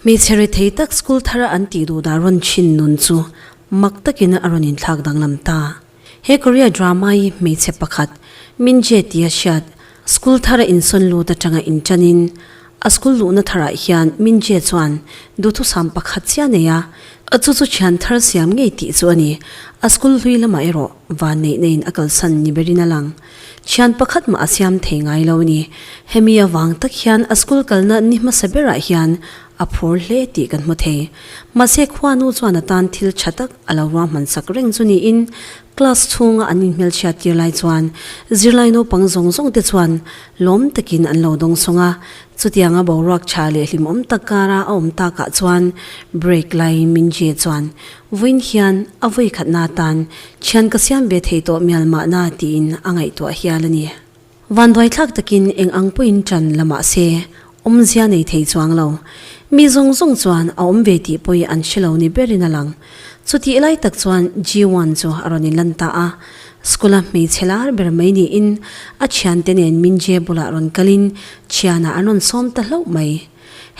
Hmeichhe rethei tak school thar a an tih duh dah rawn chin nun chu mak takin a rawn inthlak danglam ta. He Korea drama hi hmeichhe pakhat Min Jae-ti a hriat school thar a insawn lut atanga intanin A school luhna tharah hian Minjie chuan duhthusam pakhat chiah nei a, a chu chu thian thar siam ngei tih chu a ni. A school hlui lamah erawh van neih neiin a kalsan ni berin a lang. Thian pakhat mah a siam thei ngai lo a ni. Hemi avang tak hian a school kalna ni hmasa berah hian a phur hle tih kan hmu thei. Mahse khua nu chuan a tan thil tha tak a lo ruahmansak reng chu niin class chhunga an inhmelchhiattir lai chuan zirlai naupang zawng zawng te chuan lawm takin an lo dawng sawng a, chutianga boruak tha leh hlimawm tak kara a awm takah chuan break lai Mingjie chuan vawiin hian a vawi khatna atan thian ka siam ve thei tawh mial mahna tiin a ngaihtuah hial a ni. Vanduaithlak takin eng ang pawhin tan la mahse, awmzia nei thei chuang lo. Mi zawng zawng chuan a awm ve tih pawhi an hre lo ni berin a lang. Chutih lai tak chuan Ji-won chu a rawn in lan ta a. School a hmeichhe lar ber mai niin a thiante nen Min-jae bulah rawn kalin thiana an rawn sawm ta hlauh mai.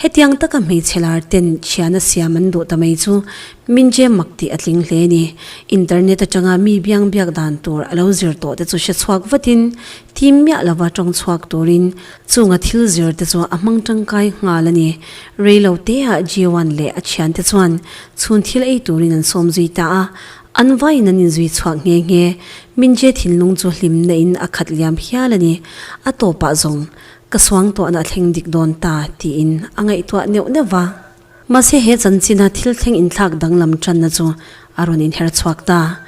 Hetiang taka hmeichhe lar ten thiana siam an duh ta mai chu Min-jae mak tih a tling hle a ni. Internet atanga mi biang biak dan tur a lo zir tawh te chu hre chhuak vatin tim miah lova tawng chhuak turin Chunga thil zir te chu a hmang tangkai nghal a ni. Rei lo te ah Jiawan leh a thian te chuan chhun thil ei turin an sawm zui ta a, an vaiin an in zui chhuak nghe nghe. Minje thinlung chu hlim na in a khat liam hial a ni. A tawp ah zawng, Ka suang tawh na a thleng dik dawn ta, tiin a ngaihtuah neuh neuh a. Mahse he chanchina thil thleng inthlak danglam tanna chu a rawn inher chhuak ta.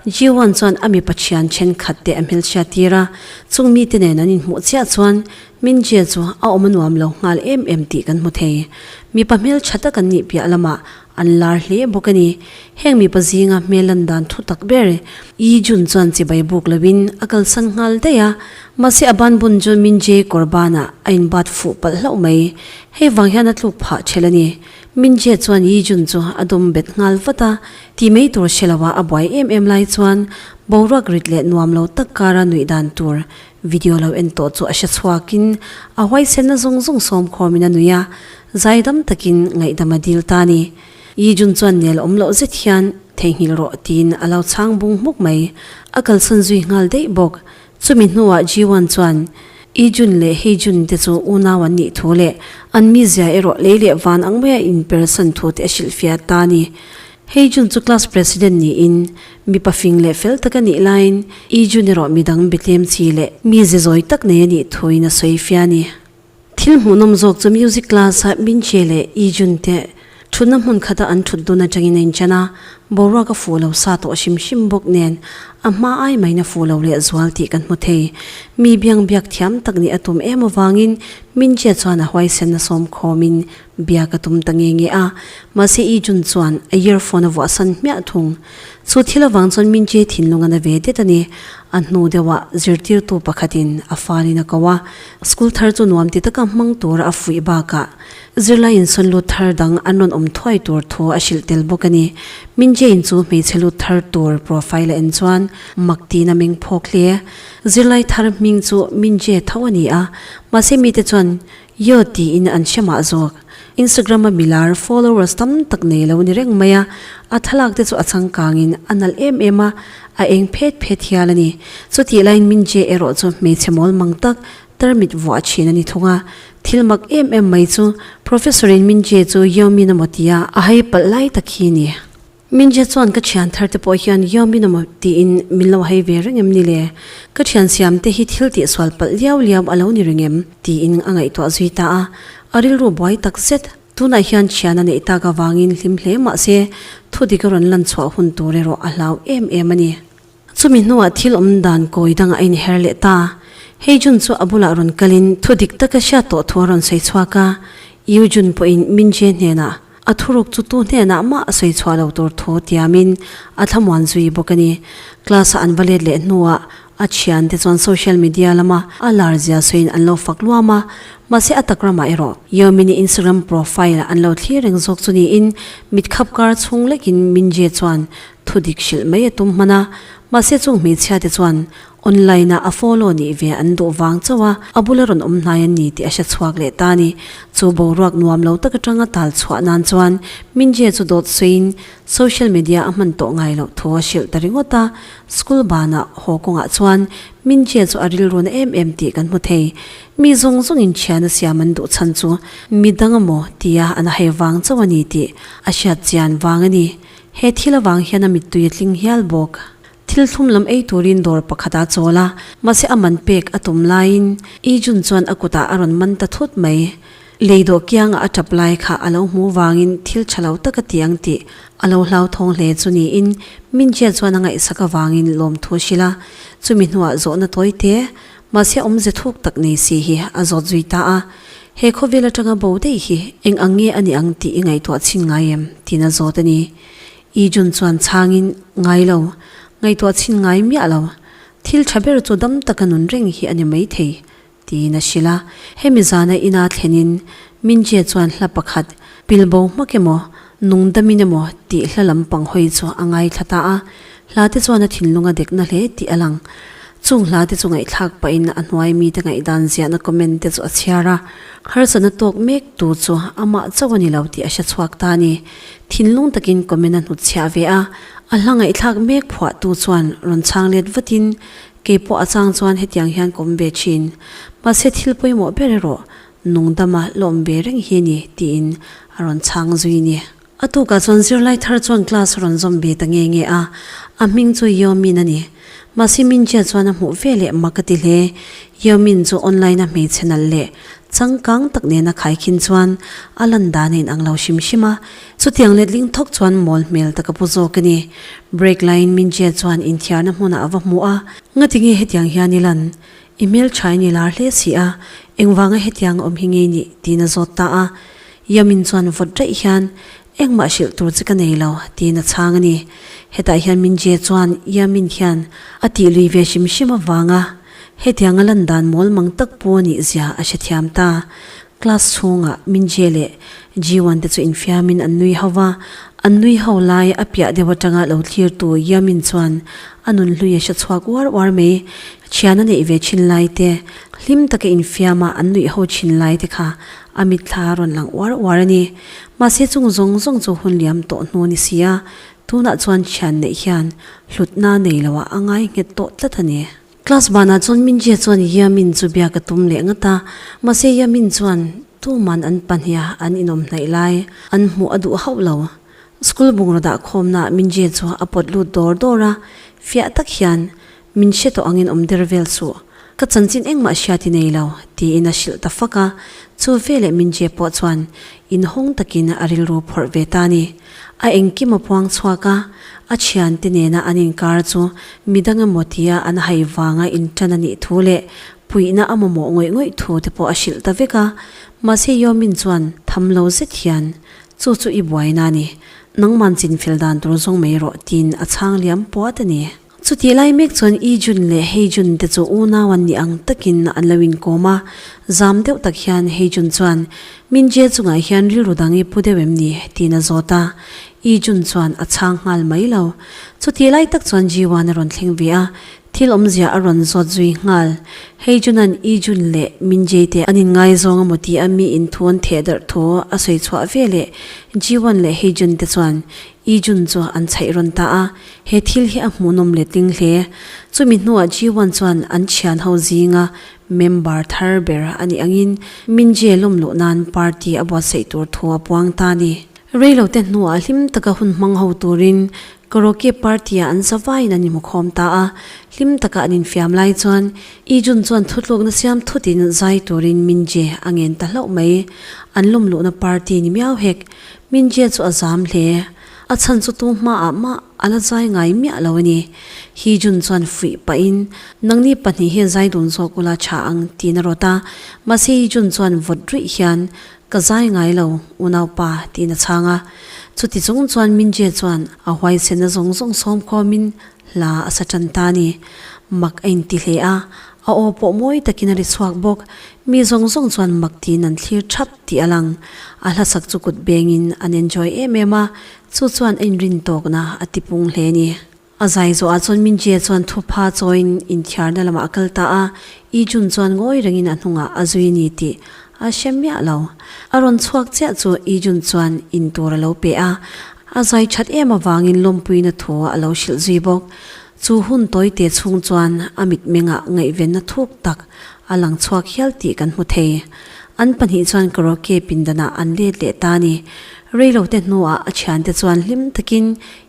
Jiuan chuan a mipa thian thenkhat te a hmilchhia tir a, chung mite nen an inhmuh chiah chuan Mingjie chu a awm a nuam lo nghal em em tih kan hmu thei. Mipa hmelchha tak an nih piah lamah an lar hle bawk a ni. Heng mipa zinga hmel lan dan thu tak ber Yijun chuan chibai buk loin a kalsan nghal daih a. Mahse a banbun chu Mingjie kawr banah a inbat fuh palh hlauh mai. Hei vang hian a tluk phah ṭhelh a ni. Min Jie chuan Yi Jun chu a dum bet nghal vat a, ti mai tur hre lohah a buai em em lai chuan boruak rit leh nuam lo tak kara nuih dan tur video lo en tawh chu a hre chhuakin a huaisenna zawng zawng sawm khawmin a nuih a, zaidam takin ngaihdam a dil ta a ni. Yi Jun chuan nel awm loh zet hian theihnghilh rawh tiin a lo chhang bung hmuk mai. A kalsan zui nghal daih bawk. Chumi hnuah Jiwan chuan, I Jun leh Hei Jun te chu unau an nih thu leh an mizia erawh lei leh van ang maia inper san thu te a hrilh fiah ta a ni. Hei Jun chu class president niin mipa fing leh fel taka nih laiin I Jun erawh midang bitlem chi leh mize zawi tak nei a nih thuin a sawi fiah a ni. Thil hmuhnawm zawk chu music class a Binche leh Ijun te thutna hmun khata an thut dawn atangin a inchan a, boruaka fuh lo sa tawh hrim hrim bawk nen a hma ai maina fuh lo leh zual tih kan hmu thei. Mi biang biak thiam tak nih a tum em avangin Binche chuan a huaisenna sawmkhawmin Biak a tum ta nge nge a, mahse i June chuan a earphone a vuahsan hmiah thung. Chu thil avang chuan min che thinlung a na ve det a ni. A hnu deuhah zirtirtu pakhatin a farin a ko a, school thar chu nuam ti taka hmang tura a fuih bakah zirlai insawn lut thar dang an rawn awm thuai tur thu a hrilh tel bawk a ni. Min che-in chu hmeichhe lut thar tur profile a en chuan mak tiin a meng phawk hle. Zirlai thar hming chu min che tho a ni a, mahse mite chuan Yo tiin an hre mah zawk. Instagram a milar followers tam tak nei lo ni reng mai a, a thlalak te chu a changkangin a nalh em em a, a eng phet phet hial a ni. Chutih laiin Minjie erawh chu hmeichhe mawl mang tak tarmit vuah thin a ni thung a, thil mak em em mai chu Professor-in Minjie chu Yo Min a maw tia a hai palh lai tak hi a ni. Minzia chuan ka thian thar te pawh hian Yao Min a maw tiin min lo hei ve reng em ni le? Ka thian siam te hi thil tih sual palh liau liau a lo ni reng em? tiin a ngaihtuah zui ta a, a rilru buai tak zet. Tunah hian thian a neih tak avangin hlim hle mah se, thudik a rawn lan chhuah hun tur erawh a hlau em em a ni. Chumi hnuah thil awm dan kawi dangah a inher leh ta. Hei Jun chu a bulah rawn kalin thu dik taka hriat tawh thu a rawn sawi chhuak a, Yu Jun pawhin Min Jie hnenah, A thuruk chu tu hnenah mah a sawi chhuah lo tur thu tia Min a thlamuan zui bawk a ni. Class-a an va let leh hnuah a thiante chuan social media lama a lar zia sawiin an lo fak luam a, mahse a tak ramah erawh Yeo Min-i Instagram profile an lo thlir reng zawk chu niin mit khap kar chhung lekin Min Jie chuan Thudik hrilh mai a tum hman a, mahse chung hmeichhia te chuan online ah a follow nih ve an duh vang chauh a, a bula rawn awm hnai an ni tih a hre chhuak leh ta a ni. Chu boruak nuam lo tak atang a tal chhuah nan chuan Mingjie chu dawt sawiin social media a hman tawh ngai loh thu a hrilh ta ringawt a, school ban ah haw kawngah chuan Mingjie chu a rilrun a em em tih kan hmu thei. Mi zawng zawng in thiana siam an duh chhan chu midang a maw tia an a hei vang chauh a ni tih a hriat chian vang a ni. He thil avang hian a mittui a tling hial bawk. Thil thlum lam ei turin dawr pakhat a chawl a, mahse a man pek a tum laiin Ijun chuan a kutah a rawn man ta thut mai. Lei dawh kianga a tap lai kha a lo hmu vangin thil tha lo tak a ti ang tih a lo hlauthawng hle chu niin Mingjia chuan a ngaihsak avangin lawmthu a hrilh a, chumi hnuah zawhna tawite Mahse awm ze thuk tak nei si hi a zawt zui ta a, he khawvel atanga bo daih hi eng ang nge a ni ang tih i ngaihtuah chhin ngai em? tiin a zawt a ni. Ii Jun chuan chhangin, Ngai lo, ngaihtuah chhin ngai miah lo. Thil tha ber chu dam taka nun reng hi a ni maithei, tiin a hrilh a. Hemi zana ina thlenin Mingjie chuan hla pakhat, Pilbo hmak emaw? Nungdamin emaw tih hla lampang hawi chu a ngaithla ta a, hlate chuan a thinlung a dekna hle tih a lang. Chung hlate chu ngaihthlak pahin a hnuai mite ngaihdan ziahna comment te chu a chhiar a, harsa na tawk mek tu chu amah chauh a ni lo tih a hre chhuak ta a ni. Thinlung takin comment a hnut chhiah ve a, a hla ngaihthlak mek phuah tu chuan rawn chhang let vatin, Keipawh a chang chuan hetiang hian kawm ve thin. Mahse thil pawimawh ber erawh Nung dama lawm ve reng hi a ni, tiin a rawn chhang zui a ni. A tukah chuan zirlai thar chuan class a rawn zawm ve ta nge nge a, a hming chu Yeo Min a ni. Mahse Minjia chuan a hmuh vel e, mak a ti hle. Yeo Min chu online a hmeichhe nalh leh changkang tak nen a khai khin chuan a lan dan a inang lo hrim hrim a. Chutiang letling thawk chuan mawl hmel tak a pu zawk a ni. Break laiin Minjia chuan inthiarna hmunah a va hmu a, Ngati nge hetiang hian i lan? I hmeltha i ni lar hle si a, engvanga hetiang a awm hi ngei nih? tiin a zawt ta a. Yamin chuan vawt daih hian, Engmah hrilh tur che ka nei lo, tiin a chhang a ni. Hetah hian Mingjie chuan Yamin hian a tih lui ve hrim hrim avanga, Hetianga lan dan mawl mang tak pu a nihzia a hrethiam ta. Class chhungah Mingjie leh Jiwan te chu infiamin an nui hova, an nui ho lai a piah deuh atanga lo thlirtu Yamin chuan a nun hlui a hre chhuak uar uar mai. Thian a neih ve thin lai te, hlim taka infiama an nuih ho thin lai te kha a mitthla a rawn lang uar uar a ni. Mahse chung zawng zawng chu hun liam tawh hnu ni si a, tunah chuan thian neih hian hlutna nei loah a ngai nghet tawh tlat a ni. Class banah chuan Mingjia chuan Yamin chu biak a tum leh ngat a, mahse Yamin chuan tuman an pahniha an inawm hnaih lai, an hmuh a duh hauh lo. School bungraudah khawmnaah Mingjia chu a pawt lut dawr dawr a, fiah tak hian, Min hre tawh angin awm der vel suh, ka chanchin engmah hria ti nei lo, tiin a hrilh ta fak a, chu veleh Mingjia pawh chuan inhawng takin a rilru phawrh ve ta a ni. A engkim a puang chhuak a, a thiante nena an inkar chu midang emaw tia an hai vanga intan a nih thu leh puihna a mamawh ngawih ngawih thu te pawh a hrilh ta vek a. Mahse Yomin chuan, Tham lo zet hian, chu chu i buaina a ni, nangman chinfel dan tur zawng mai rawh, tiin a chhang liam puat a ni. Chutih lai mek chuan i June leh hei June te chu unau an nih ang takin an lo inkawm a, zam deuh tak hian hei June chuan Min Jae chungah hian rilru dang i pu deuh em ni? tiin a zawt a, i June chuan a chhang nghal mai lo. Chutih lai tak chuan Ji Wan a rawn thleng ve a, thil awmzia a rawn zawt zui nghal. Hei June-a'n i June leh Min Jae te an inngaizawng a maw tih a mi in thu an theh darh thu a sawi chhuah veleh, Ji Wan leh hei June te chuan i June chu an chhaih rawn ta a, He thil hi a hmuhnawm leh tling hle. Chumi hnuah G1 chuan an thian ho zinga member thar ber a nih angin Minjie lawm loh nan party a buatsaih tur thu a puang ta a ni. Rei lo te hnuah hlim taka hun hmang ho turin Koroke party-ah an za vaiin an inhmukhawm ta a. Hlim taka an infiam lai chuan Ijun chuan thutlukna siam thutin zai turin Minjie a ngen ta hlauh mai. An lawm luhna party ni miau hek. Minjie chu a zam hle. A chhan chu tu hma ah mah a la zai ngai miah lo a ni. Hi Jun chuan fuih pah in, Nangni pahnih hi zai dun zawk ula tha ang tiin a rawt a. Mahse hi Jun chuan vawt ruih hian, Ka zai ngai lo, unaupa, tiin a chhang a. Chuti chung chuan Mingjie chuan a huaisehna zawng zawng sawm khawm in Hla a sa tan ta ni. Mak a inti hle a, a aw pawh mawi takin a ri chhuak bawk. Mi zawng zawng chuan mak tiin an thlir thap tih a lang. A hlasak chu kut bengin an enjoy em em a, chu chuan a inrin tawkna a ti pung hle ni. A zai zawhah chuan Mingjie chuan thu pha chawiin inthiarna lamah a kal ta a, Ijun chuan ngawi rengin a hnungah a zui ni tih A hre miah lo. A rawn chhuak chiah chu Ijun chuan in tur a lo pe a, a zai that em avangin lawmpuina thu a lo hrilh zui bawk. Chu hun tawi te chhung chuan a mitmengah ngaihvenna thuk tak a lang chhuak hial tih kan hmu thei. An pahnih chuan karaoke pindanah an let leh ta a ni. Reilote hnuah a thiante chuan hlim takin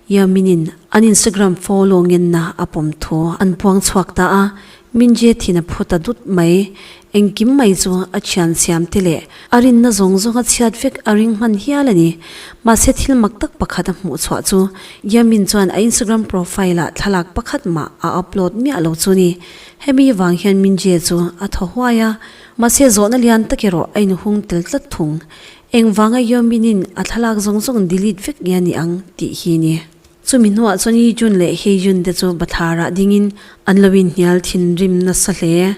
Yaminin an Instagram follow ngenna a pawm thu an puangchhuak ta a, Min Jae-thin a phu ta dut mai. Engkim mai chu a thiansiam te leh a rinna zawng zawnga chhiat vek a ring hman hial a ni. Mahse thil mak tak pakhat a hmuh chhuah chu Yamin chuan a Instagram profile-ah thlalak pakhat mah a upload miah lo chu ni. Hemi vang hian Min Jae chu a thaw huai a, mahse zawhna lian tak erawh a inhung tel tlat thung. Engvanga Hyo Min-in a thlalak zawng zawng delete vek nge a ni ang tih hi ni. Chumi hnuah chuan Hee-jun leh Hae-jun te chu bathlar ah dingin an lo inhnial thinrim nasa hle.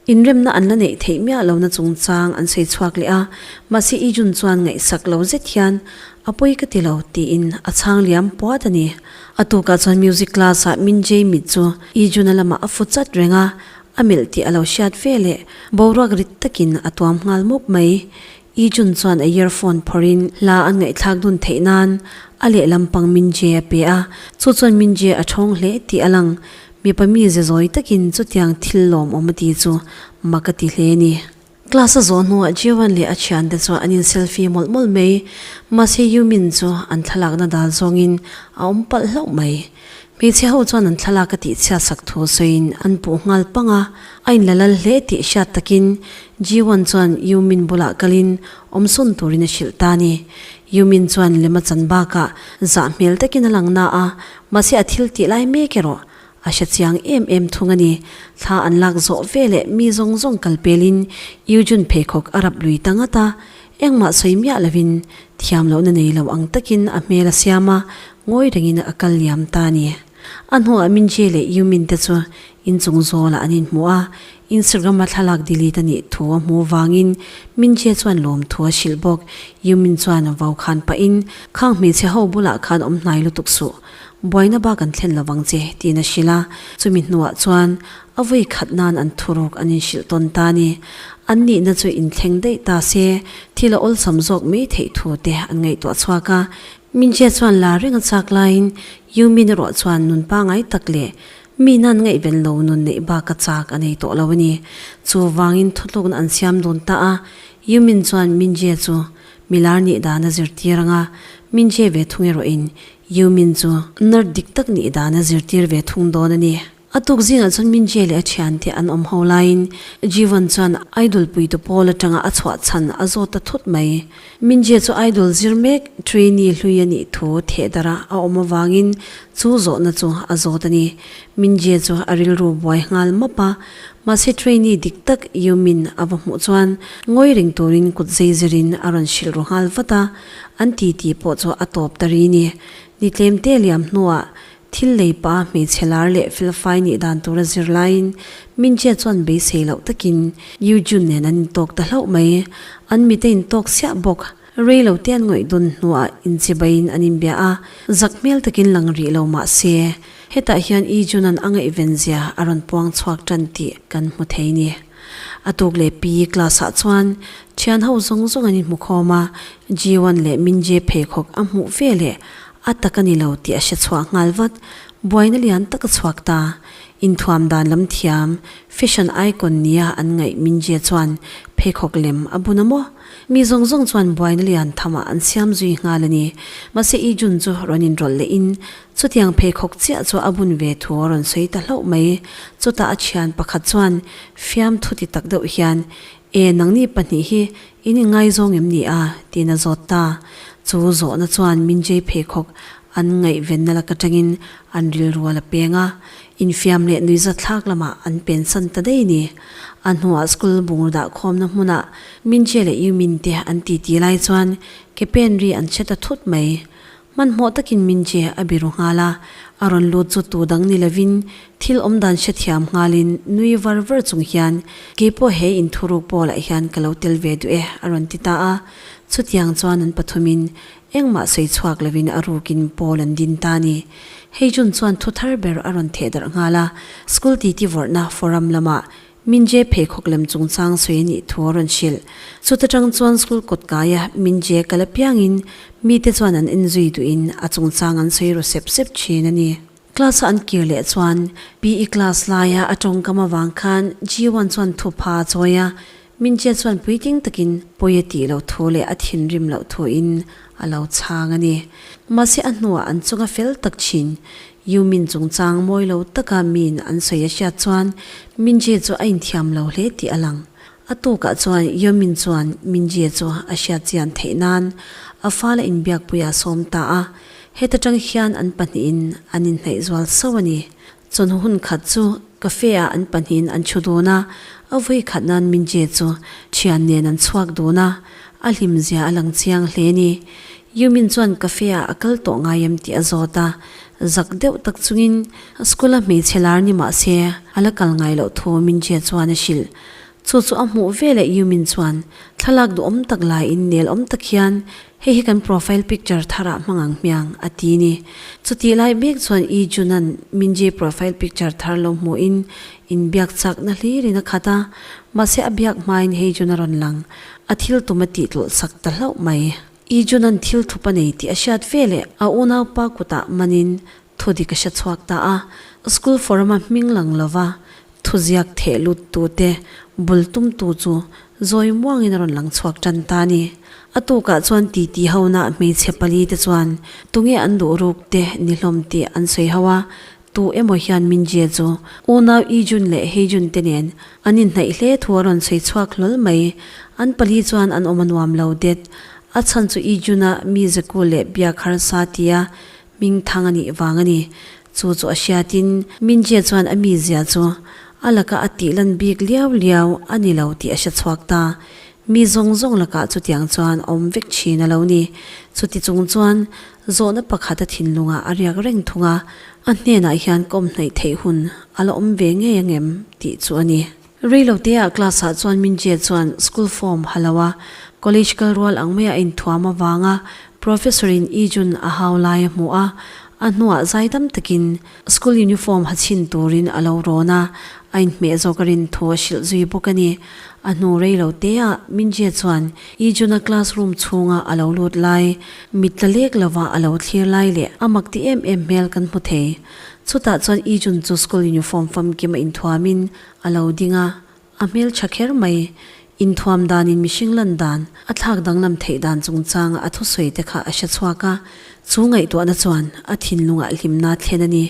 Inremna an la neih theih miah lohna chungchang an sawi chhuak leh a, mahse Hee-jun chuan ngaihsak lo zet hian A pawi ka ti lo tiin a chhang liam puat a ni. A tukah chuan music class ah Min-jae mit chu Hee-jun-a lamah a fu chat reng a, a melh tih a lo hriat veleh boruak rit takin a tuam nghal mawp mai. I Jun chuan a earphone phawrhin hla an ngaihthlak dun theih nan a lehlam pang Min Jie a pe a, chu chuan Min Jie a thawng hle tih a lang. Mipa mi zezawi takin chutiang thil lawm awm a ti chu mak a ti hle a ni. Class a zawh hnuah Jiawan leh a thiante chuan an in selfie mawlh mawlh mai. Mahse Yumin chu an thlalakna dal zawngin a awm palh hlauh mai. Hmeichhe ho chuan an thlalak a tihchhiat sak thu sawiin an puh nghal pang a, a in la lal hle tih hriat takin Ji-wan chuan Yu-min bulah kalin awmsawn turin a hrilh ta a ni. Yu-min chuan lem a chan bakah zah hmel takin a lang na a, mahse a thil tih lai mek erawh a hre chiang em em thung a ni. Thla an lak zawh veleh mi zawng zawng kal pelin Yu-jun pheikhawk a rap lui ta ngat a, Engmah sawi miah lovin thiam lohna nei lo ang takin a hmel a siam a, ngawi rengin a kal liam ta a ni. A hnuah Min Jae leh Yu Min te chu inchung zawlah an inhmuh a, Instagram a thlalak delete a nih thu a hmuh vangin Min Jae chuan lawmthu a hrilh bawk. Yu Min chuan vau khan pahin, Khang hmeichhe ho bulah khan awm hnai lutuk suh, buaina bak an thlen lovang che, tiin a hrilh a, chumi hnuah chuan A vawi khat nan an thu rawk an inhrilh tawn ta ni. An nihna chu inthleng daih ta se thil a awlsam zawk mai theih thu te an ngaihtuah chhuak a. Minzia chuan la reng a chak laiin Yumin erawh chuan nun pangai tak leh mi nan ngaih vel lo nun neih bak a chak a nei tawh lo a ni. Chu vangin thutlukna an siam dun ta a. Yumin chuan Minzia chu milar nih dan a zirtir anga Minzia ve thung erawhin Yumin chu nart dik tak nih dan a zirtir ve thung dawn a ni. A tuk zinah chuan Mingjie leh a thian te an awm ho laiin Jeevan chuan idol puite pawl atanga a chhuah chhan a zawt ta thut mai. Mingjie chu idol zir mek trainee hlui a nih thu thehdarha a awm avangin chu zawhna chu a zawt a ni. Mingjie chu a rilru buai nghal map a, mahse trainee dik tak Yumin a va hmuh chuan ngawi reng turin kut zeizirin a rawn hrilh ru nghal vat a, an titi pawh chu a tawp ta ri ni. Ni tlemte liam hnuah Thil lei pa hmeichhe lar leh felfai nih dan tura zir laiin Mingjia chuan beisei loh takin Yujun nen an intawk ta hlauh mai. An mit a intawk siah bawk. Rei lo te an ngawih dawn hnuah inchibaiin an inbia a, zak hmel takin lang rih lo mah se, hetah hian Yijunan a ngaihvenzia a rawn puang chhuak tan tih kan hmu thei ni. A tuk leh pi class-ah chuan thianho zawng zawng an inhmukhawm a, Jiwan leh Mingjie pheikhawk a hmuh veleh A tak a ni lo tih a hre chhuah nghal vat. Buaina lian tak a chhuak ta. Inthuam dan lam thiam, fashion icon nia an ngaih Minjie chuan pheikhawk lem a bun a maw? Mi zawng zawng chuan buaina lian thamah an siam zui nghal a ni. Mahse i June chu rawn inrawlh leh in chutiang pheikhawk chiah chu a bun ve thu a rawn sawi ta hlauh mai. Chutah a thian pakhat chuan fiam thuti tak deuh hian E, nangni pahnih hi in ingaizawng em ni a? tiin a zawt ta. Chu zawhna chuan Minjay pheikhawk an ngaihvenna lak atangin an rilrual a peng a, infiam leh nuihzat thlak lamah an pensan ta daih ni. A hnuah school bungraw dah khawmna hmunah Minjay leh Yumin te an titi lai chuan kepen ri an che ta thut mai. Hmanhmawh takin Minche a biru nghal a, a rawn lut chu tu dang ni lovin thil awmdan hrethiam nghalin nui var var chung hian, Keipawh he inthuruk pawl ah hian ka lo tel ve duh e, a rawn ti ta a. Chutiang chuan an pathumin engmah sawi chhuak lovin a rukin pawl an din ta a ni. Hei June chuan thu thar ber a rawn thehdarh nghal a, School titi vorhna forum lamah Minje pheikhawk lem chungchang sawi a nih thu a rawn hrilh. Chuta tang chuan school kawt kaia Minje kal apiangin mite chuan an en zui duhin a chungchang an sawi ru sep sep thin a ni. Class a an kir leh chuan PE class laia a tawngkam avang khan Jiuan chuan thu pha a chawi a, Minje chuan puiting takin pawi a tih loh thu leh a thinrim loh thuin a lo chhang a ni. Mahse a hnuah an chunga fel tak thin. U Min chungchang mawi lo taka Min an sawi a hriat chuan Minjie chu a inthiam lo hle tih a lang. A tukah chuan U Min chuan Minjie chu a hriat chian theih nan a fala inbiakpui ah sawm ta a, heta tang hian an pahnihin an inhnaih zual sauh a ni. Chawnu hun khat chu Cafe ah an pahnihin an thu dun a, a vawi khat nan Mingjie chu thian nen an chhuak dun a, a hlim zia a lang chiang hle ni. Yumin chuan cafe ah a kal tawh ngai em tih a zawt a, zak deuh tak chungin a school a hmeichhe lar ni mah se a la kal ngai loh thu Mingjie chuan a hrilh. Chu chu a hmuh ve leh Yumin chuan thlalak duhawm tak laiin nelawm tak hian Hei hi kan profile picture thar ah hmang ang hmiang, a ti ni. Chutih lai bik chuan Ii Junan Minjie profile picture thar lo hmuhin in biak chak nahlir in a khat a, mahse a biak hmain Hei Jun a rawn lang, a thil tum a tih tlawlh sak ta hlauh mai. Ii Junan thil thup a nei tih a hriat veleh a unaupa kutah manin Thudi ka hre chhuak ta a, school forum a hming lang lova thuziak theh lut tu te bul tum tu chu zawi muang in a rawn lang chhuak tan ta a ni. A tukah chuan titi ho na hmeichhe pali te chuan tunge an duh ruk te ni hlawm tih an sawi ho a, tu emaw hian Mingjie chu unau Ijun leh Heijun te nen an inhnaih hle thu a rawn sawi chhuak hlawl mai. An pali chuan an awm a nuam lo det, a chhan chu Ijun a mi ze kul leh biak harsa tia Hming thang a nih vang a ni. Chu chu a hriatin Mingjie chuan a mizia chu a laka a tih lan bik liau liau a ni lo tih a hre chhuak ta. Mi zawng zawng lakah chutiang chuan a awm vek thin a lo ni. Chuti chung chuan zawhna pakhat a thinlungah a riak reng thung a, a hnenah hian kawm hnaih theih hun a la awm ve ngei ang em tih chu a ni. Reilo te a class ah chuan min zia chuan school form ha lo a, college kal rual ang mai a inthuam avang a professor in i jun a hau lai a hmuh a, a hnuah zai dam takin school uniform ha chhin turin a lo rawn a, a inhmeh zawk a rin thu a hrilh zui bawk a ni. A hnu reilo te ah min zia chuan i jun a class room chhung ah a lo lut lai, mit tla lek lo ah a lo thlir lai leh a mak ti em em hmel kan hmu thei. Chutah chuan i jun chu school uniform famkim a inthuam in a lo ding a, a hmeltha kher mai. Inthuam danin mihring lan dan, a thlak danglam theih dan chungchanga a thusawi te kha a hre chhuak a, chu ngaihtuahna chuan a thinlungah hlimna thlen a ni.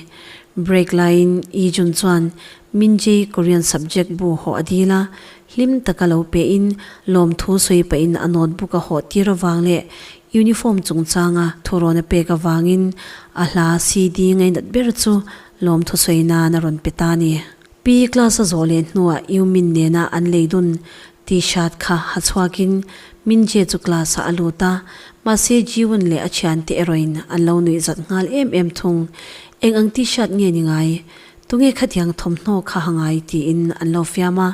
Break laiin Yijun chuan Minji Korean subject bu haw a dil a, hlim taka lo pehin lawmthu sawi pahin a notebook a hawh tir avang leh Uniform chungchanga thurawn a pek avangin a hla si ding a inat ber chu lawmthusawi nan a rawn pe ta a ni. Pi class a zawh leh hnuah U Min nena an lei dun T-shirt kha ha chhuakin Min Jie chu class ah a lut a, mahse Jiwon leh a thiante erawhin an lo nuih zat nghal em em thung. Eng ang T-shirt nge ni ngai? Tunge khatiang thawmhnaw kha a ngai tiin an lo fiam a,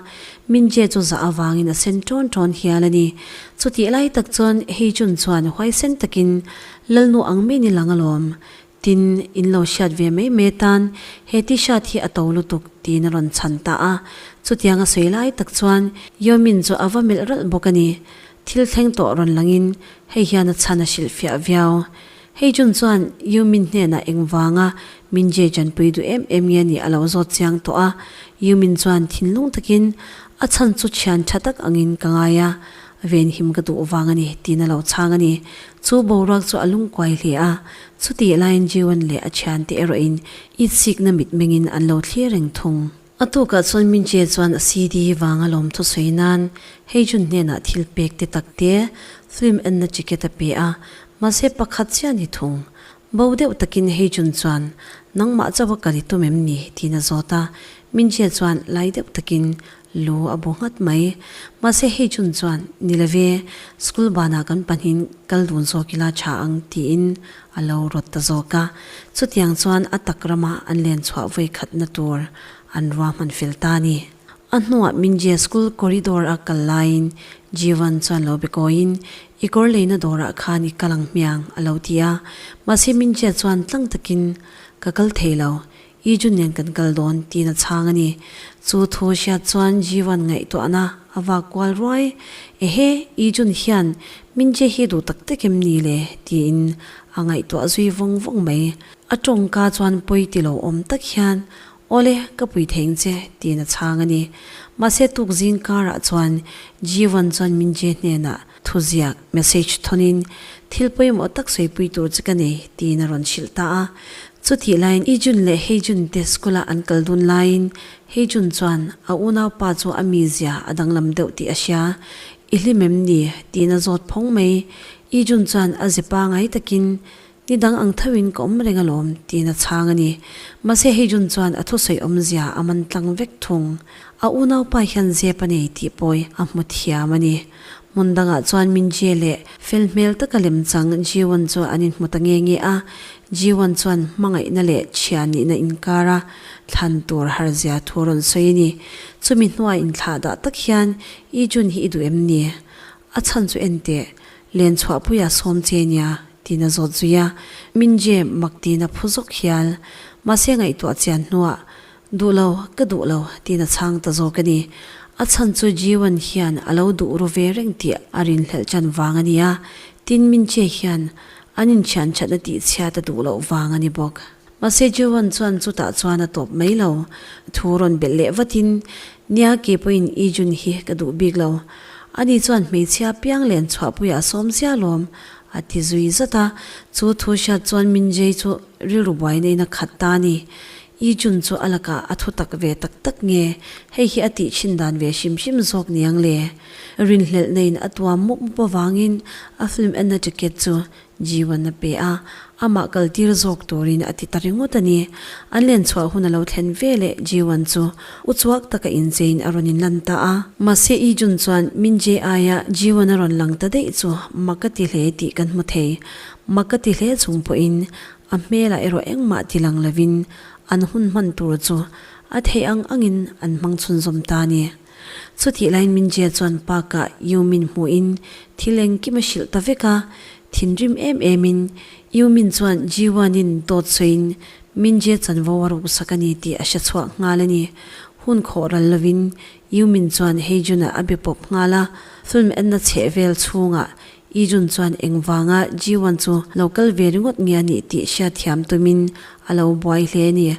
Mingjie chu zah avangin a sen tawn tawn hial a ni. Chutih lai tak chuan Heijun chuan huaisen takin, Lalnu ang mei ni lang alawm. Tin, in lo hriat ve mai mai tan he T-shirt hi a to lutuk tiin a rawn chhan ta a. Chutiang a sawi lai tak chuan Yomin chu a va melh ralh bawk a ni. Thil thleng tawh rawn langin, Hei hian a chhan a hrilh fiah viau. Hei June chuan Yumin hnenah engvanga min je chanpui duh em em nge nih a lo zawt chiang tawh a, Yumin chuan thinlung takin, A chhan chu thian tha tak angin ka ngai a, venhim ka duh vang a ni, tiin a lo chhang a ni. Chu boruak chu a lungkuai hle a, chutihlaiin Jiwon leh a thiante erawhin i sikna mitmengin an lo thlir reng thung. A tukah chuan Minchie chuan a CD vanga lawm thusawi nan Heijun hnenah thil pekte takte film enna ticket a pe a, mahse pakhat chian i thung. Bo deuh takin Heijun chuan, Nangmah chauh a kal i tum em ni? tiin a zawt a, Minchie chuan lai deuh takin lu a bu nghat mai. Mahse Heijun chuan, Ni lo ve, school banah kan pahnihin kal dun zawk ila tha ang, tiin A lo rawt ta zawk a, chutiang chuan a tak rama an len chhuah vawi khatna tur an ruahman fel ta ni. A hnuah Minjia School corridor a kal laiin Jivan chuan lo be kawiin, I kawr leina dawrah khan i kal ang hmiang, a lo ti a. Mahse Minjia chuan tlang takin, Ka kal thei lo, I Jun nen kan kal dawn tiin a chhang a ni. Chu thu hriat chuan Jivan ngaihtuahna a va kual ruai. Ehe, I Jun hian Mingjie hi duh tak tak em ni le? tiin a ngaihtuah zui vawng vawng mai. A tawngka chuan pawi ti lo awm tak hian, Awle, ka pui theng che, tiin a chhang a ni. Mahse, tukzing karah chuan Jivan chuan Mingjie hnenah, Thuziak, message, thonin thil pawimawh tak sawipui tur che ka nei, tiin a rawn hrilh ta a. Chutih laiin i Jun leh Hei Jun te school-ah an kal dun laiin Hei Jun chuan, A unau pa chu a mizia a danglam deuh tih a hria. I hlim em ni? tiin a zawt phawng mai. I Jun chuan a ze pangai takin, Ni dang ang theuhin ka awm reng alawm, tiin a chhang a ni. Mahse hei June chuan a thusawi awmzia a man tlang vek thung. A unaupa hian zep a nei tih pawi a hmu thiam a ni. Hmun dangah chuan Mingjie leh fel hmel taka lem chang Jiwon chu an inhmu ta nge nge a, Jiwon chuan hmangaihna leh chhia nihna inkar a thlan tur harzia thu a rawn sawi a ni. Chumi hnuai inthlahdah tak hian, I June hi i duh em ni? A chhan chu enteh, Len chhuah pui a sawm che nia tiin a zawt zui a, min je mak tiin a phu zawk hial. Mahse ngaihtuah chian hnuah, Duh lo, ka duh lo tiin a chhang ta zawk a ni. A chhan chu Jiwan hian a lo duh ru ve reng tih a rinhlelh chan vang a nia, tin min che hian an inchhianchhatna tihchhiat a duh loh vang a ni bawk. Mahse Joan chuan chutah chuan a tawp mai lo, thu rawn belh leh vatin, Nia keipawhin i June hi ka duh bik lo, ani chuan hmeichhia piang len chhuahpui a sawm sia lawm, a ti zui zat a, chu thu hriat chuan Mingjay chu rilru buai naiin a khat ta a ni. I June chu a lakah a thutak ve tak tak nge, hei hi a tih thin dan ve hrim hrim zawk niang le. Rinhlelh naiin a tuam mup mup avangin a film enna ticket chu Jiwan a pe a, amah kal tir zawk turin a ti ta ringawt a ni. An len chhuah hun a lo thlen ve leh Jiwan chu uchuak taka incheiin a rawn inlan ta a. Mahse i Jun chuan Min Je aia Jiwan a rawn lang ta daih chu mah ka ti hle tih kan hmu thei. Mah ka ti hle chung pawhin a hmelah erawh engmah ti lang lovin an hun hman tur chu a theih ang angin an hmang chhunzawm ta a ni. Chutih lain Minjia chuan park-ah Yu Min hmuhin thil engkim a hrilh ta vek a, thinrim em emin Yu Min chuan Ji Wanin dawt sawiin Minjia chanvo a ruk sak a ni tih a hre chhuak nghal a ni. Hun khawh ral lovin Yu Min chuan Heijun-ah a be pawp nghal a, film enna chheh vel chhungah Ijun chuan engvanga Jiwan chu lo kal ve ringawt nge a nih tih hriat thiam tumin a lo buai hle a ni.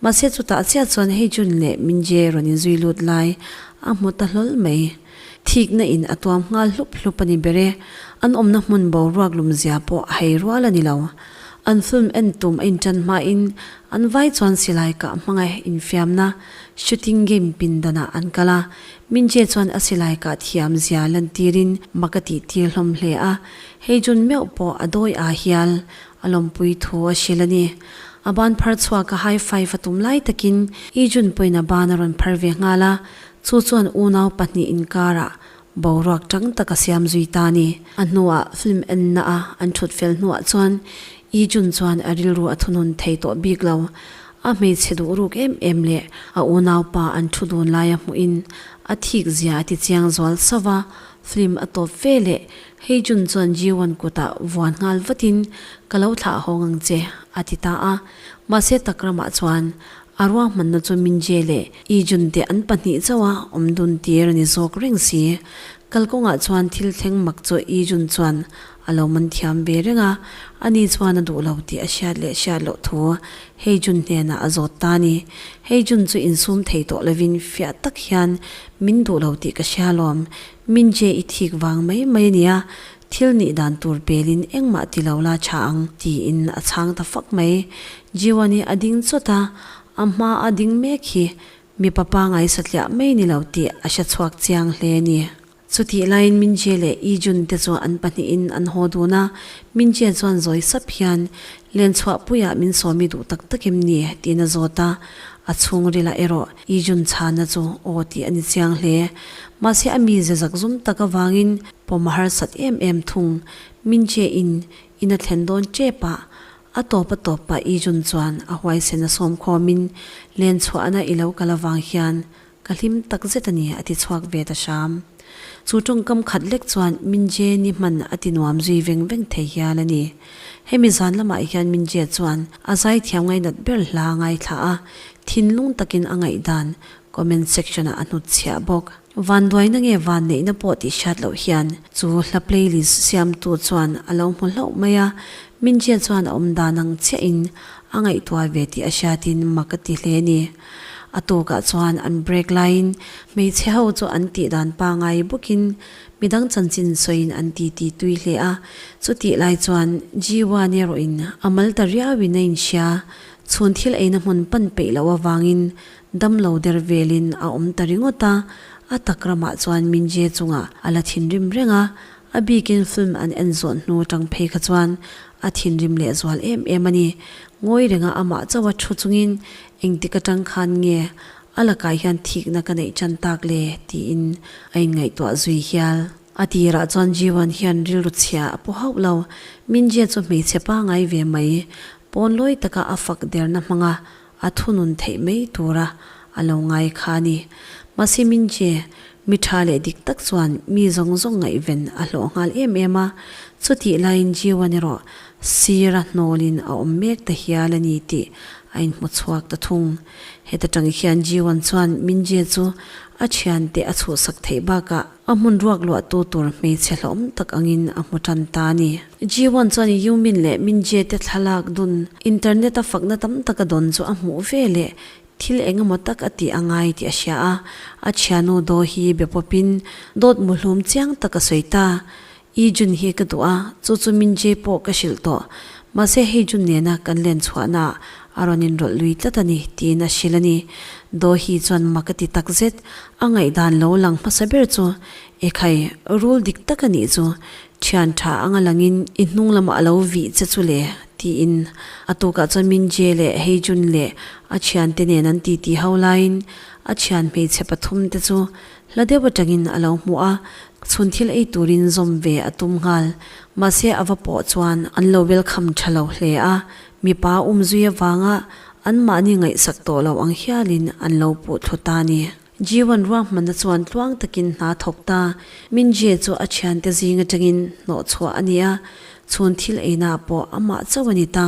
Mahse chutah chiah chuan hei June leh Mingjie rawn inzui lut lai a hmu ta hlawl mai. Thikna in a tuam nghal hlup hlup a ni ber e. An awmna hmun boruak lumzia pawh a hei rual a ni lo. An film en tum a inṭan hmain an vai chuan silai kah hmangaih infiamna, shooting game, pindanah an kal a, Minche chuan a silai kah thiam zia lan tirin mak a tih tir hlawm hle a, hei June meuh pawh a dawi a hial a lawmpui thu a hrilh a ni. A ban phar chhuak a high five a tum lai takin i June pawhin a ban a rawn phar ve nghal a, chu chuan unau pahnih inkarah boruak chang tak a siam zui ta a ni. A hnuah film enna a an thut fel hnuah chuan i June chuan a rilru a thunun thei tawh bik lo, A hmeichhe duhruk em em leh a unaupa an thu dun laia hmuhin a thik zia a ti chiang zual sauh a, film a tawp ve le, hei June chuan Jiwan kutah vuan nghal vatin ka lo thlah hawng ang che a ti ta a, mahse Takramah chuan a ruahmanna chu Minjie leh Ijun te an pahnih chauha awm dun tir a ni zawk reng si, kalkawngah chuan thil thleng mak chu Ijun chuan A lo man thiam ve reng a, ani chuan a duh lo tih a hriat leh hriat loh thu Hei Jun hnenah a zawt ta a ni. Hei Jun chu insum thei tawh lovin fiah tak hian, Min duh lo tih ka hria lawm. Min che i thik vang mai mai a nia, thil nih dan tur pelin engmah ti lo la tha ang, tiin a chhang ta fak mai. Jiwan hi a ding chawt a, a hma a ding mek hi mipa pangai satliah mai ni lo tih a hre chhuak chiang hle a ni. Chutih laiin Mingjie leh Yi Jun te chu an pahnihin an haw dun a, Mingjie chuan zawi sap hian, Len chhuah puiah min sawmi duh tak tak em ni? tiin a zawt a, a chhungrila erawh Yi Jun chhana chu aw tih a ni chiang hle. Mahse a mi zezak zum tak avangin pawm harsat em em thung Mingjie-in in a thlen dawn tep a, a tawp a tawp pah Yi Jun chuan a huaisen a sawm khawmin Len chhuahna i lo kal avang hian Ka hlim tak zet a ni, a ti chhuak ve ta Sham. Chu tawngkam khat lek chuan Mingjie ni hman a ti nuam zui veng veng thei hial a ni. Hemi zan lamah hian Mingjie chuan a zaithiam ngainat ber hla a ngaithla a, thinlung takin a ngaihdan comment section ah a hnut chhiah bawk. Van duaina nge van neihna pawh tih hriat loh hian chu hla playlist siamtu chuan a lo hmu hlauh mai a, Mingjie chuan a awmdan ang chiahin a ngaihtuah ve tih a hriatin mak a ti hle a ni. A tukah chuan an break laiin hmeichhe ho chu an tih dan pangai bawkin midang chanchin sawiin an ti ti tui hle a. Chutih lai chuan Jiwan erawhin a mal ta riauin a inhria. Chhun thil eina hmun pan peih loh avangin damlo der velin a awm ta ringawt a. A tak ramah chuan Mingjie chunga a la thin rim reng a. A bikin film an en zawh hnu atang phei kha chuan a thinrim lehzual em em a ni. Ngawi renga amah chauha thu chungin Engtik atang khan nge a lakah hian thikna ka neih chan tak le? tiin a inngaihtuah zui hial. A tirah chuan Jiwan hian rilru chhia a paw hauh lo. Mingjia chu hmeichhe pangai ve mai, pawn lawi taka a fak derna hmanga a thunun theih mai tura a lo ngai kha a ni. Mahse Mingjie mi tha leh dik tak chuan mi zawng zawng ngaihven a hlawh nghal em em a. Chutih laiin Jiwan erawh Sira hnawlin a awm mek ta hial a ni tih a inhmuchhuak ta thung. Heta tang hian Jiwan chuan Mingjie chu a thiante a chhuhsak theih bakah a hmun ruak luahtu tur hmeichhe hlawm tak angin a hmu tan ta a ni. Jiwan chuan Yumin leh Mingjie te thlalak dun, internet a fakna tam taka dawn chu a hmuh ve leh thil engemaw tak a tih a ngai tih a hria a. A thianu Daw hi be pawpin dawt muhlum chiang taka sawi ta. I Jun hi ka duh a, chu chu min chei pawh ka hrilh tawh. Mahse hei Jun nena kan len chhuahnaah a rawn inrawlh lui tlat a ni, tiin a hrilh a ni. Daw hi chuan mah ka ti takzet, a ngaihdan lo lang hmasa ber chu, E khai, rul dik tak a nih chu, thian tha anga langin i hnung lamah a lo vih che chu le, tiin a tukah chuan Min Jie leh hei Jun leh a thiante nen an titi ho laiin a thian hmeichhe pathum te chu Hla deuh atangin a lo hmu a, chhun thil ei turin zawm ve a tum nghal. Mahse a va pawh chuan an lo welcome tha lo hle a, mipa um zui avanga anmahni ngaihsak tawh loh ang hialin an lo puh thlu ta a ni. Jiwan ruahmanna chuan tluang takin hna thawk ta, Mingjie chu a thiante zing atangin hnawh chhuah a ni a, chhun thil einah pawh a mah chauh a ni ta,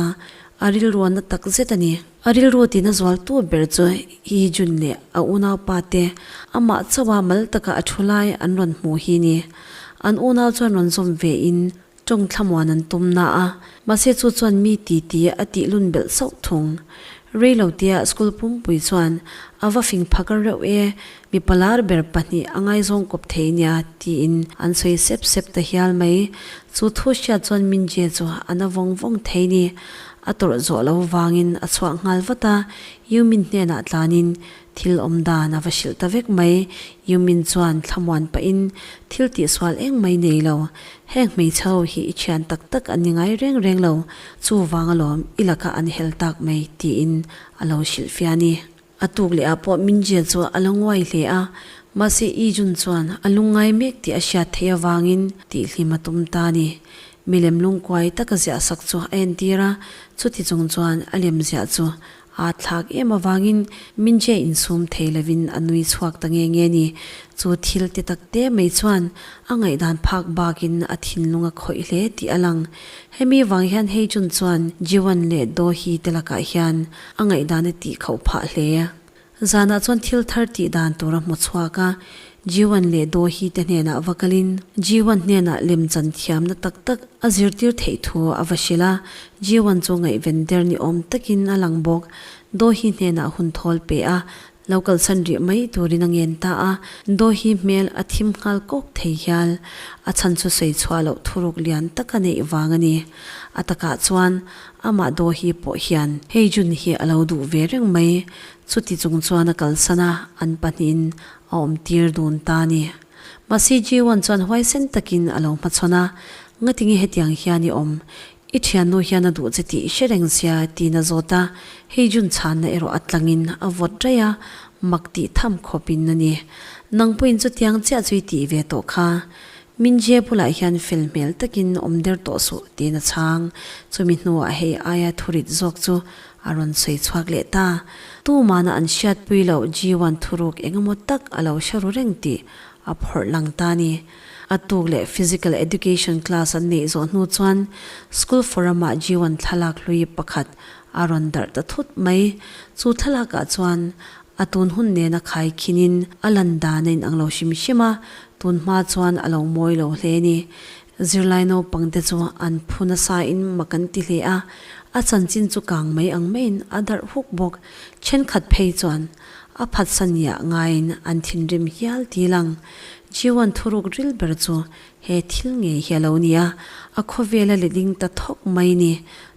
a rilruahna takzet a ni. A rilru tiin a zual tu ber chu hi Jun leh a unau pa te amah chauha mal taka a thu lai an rawn hmuh hi ni. An unau chuan rawn zawm ve in tawng thlamuan an tum na a, mahse chu chuan mi ti ti a tih lun belh sauh thung. Rei lo tia school pumpui chuan a va fing phaka reuh e, Mipa lar ber pahnih a ngaizawng kawp thei nia, tiin an sawi sep sep ta hial mai. Chu thu hriat chuan Minjie chu a na vawng vawng thei ni. A tawrh zawh lo vangin a chhuak nghal vat a, Yumin hnenah tlanin thil awm dan a va hrilh ta vek mai. Yumin chuan thlamuan pahin thil tihsual eng mai nei lo. Heng hmeichhe ho hi i thian tak tak an ni ngai reng reng lo, chuvanga lawm i laka an hel tak mai, tiin a lo hrilh fiah a ni. A tuk leh ah pawh Mingjia chu a la nguai hle a, mahse Ijun chuan a lung ngai mek tih a hriat theih avangin tihhlim a tum ta a ni. Milem lungkuai taka ziah sak chu a entir a, chuti chung chuan a lemziah chu aa thlak em avangin Mingjia insum thei lovin a nui chhuak ta nge nge ni. Chu thil ti takte mai chuan a ngaihdan phak bakin a thinlung a khawih hle tih a lang. Hemi vang hian Heijun chuan Jiwan leh Dohi te lakah hian a ngaihdan a tih khauh phah hle a. Zanah chuan thil thar tih dan tur a hmu chhuak a, Jiwan leh Dawhi te hnenah va kalin Jiwan hnenah lem chan thiamna tak tak a zirtir theih thu a va hrilh a, Jiwan chu ngaihven der ni awm takin a lang bawk, Dawhi hnenah hun thawl pe a, Lo kalsan rih mai turin a ngen ta a, Dawhi hmel a thim nghal kawk thei hial. A chhan chu sawi chhuah loh thuruk lian taka neih vang a ni. A takah chuan amah Dawhi pawh hian hei June hi a lo duh ve reng mai. Chuti chung chuan a kalsan a, an pahnihin a awm tir dun ta a ni. Mahse Jiwan chuan huaisen takin a lo hmachhawn a, Ngatinge hetiang hian i awm? I thiannu hian a duh che tih hre reng sia tiin a zawt a, hei June chhanna erawh a tlangin a vawt raih a, mak tih tham khawpin a ni. Nang pawhin chutiang chiah chu i tih ve tawh kha. Mingjie bulah hian fel hmel takin awm der tawh suh tiin a chhang. Chumi hnuah hei aia thurit zawk chu a rawn sawi chhuak leh ta. Tumana an hriatpui loh Ji-wan thuruk engemaw tak a lo hre ru reng tih a phawrh lang ta a ni. A tuk leh Physical Education class an neih zawh hnu chuan School Forum ah G1 thlalak hlui pakhat a rawn darh ta thut mai. Chu thlalak ah chuan a tun hun nena khai khin in a lan dan a in ang lo hrim hrim a, tun hma chuan a lo mawi lo hle a ni. Zirlai naupang te chu an phu nasa in mah kan ti hle a, a chanchin chu kang mai ang mai in a darh huk bawk. Thenkhat phei chuan A phatsa niah ngaiin an thinrim hial til ang. Jiuan thuruk ril ber chu he thil ngei hi a lo ni a, a khawvela leh ding ta thawk mai ni.